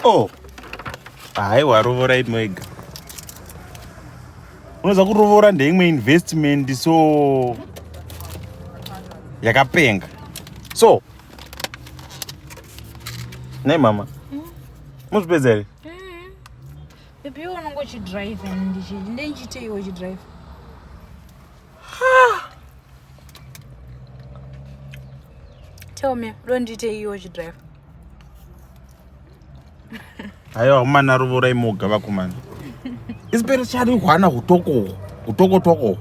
Oh. Haiwa rovora imwega. Unoza kurovora ndeimwe investment so yakapenga. So. Nei mama. Hmm? Muzvipedza here? Hmm. Baby iwe unongo uchidrive and ndichiite iwe uchidrive. Tell me, don't you take your drive? Ayo mwana rovora imoga vakomana. Isipere chari hwana hutoko hutoko toko.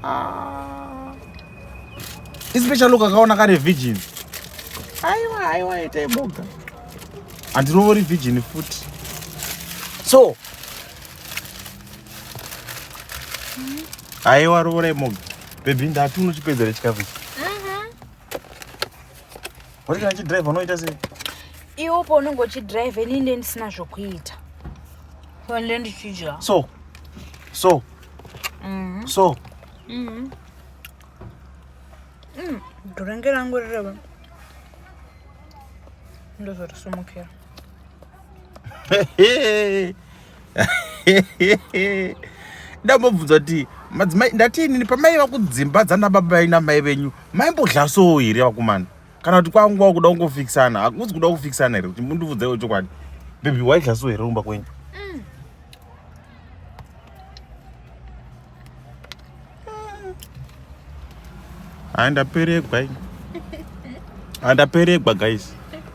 Ah. Isipere chalo kakaona kare virgin. Aiwa aiwa ita imoga. Andirovori virgin futi. So Aiwa rovora imoga. Baby ndati unochipedzera chikafu. Wari kana chidrive unoita sei? Iwo paunenge uchidrive ini ndiye ndisina zvokuita. Wande ndichidya. So. So. Mm -hmm. So. Mm -hmm. Mm, durenge rangu rireva. Ndozorisimukira. ndambobvunza kuti madzimai ndati inini pamaiva kudzimba dzana baba ina mai venyu maimbodhlasowo here vakomana kana kuti kwanguva kuda kungofikisana hakuzi kuda kufikisana here kuti mundibvudzaiwo chokwadi bebi waidhlasowo here kumba kwenyu andaperegwa andaperegwa guys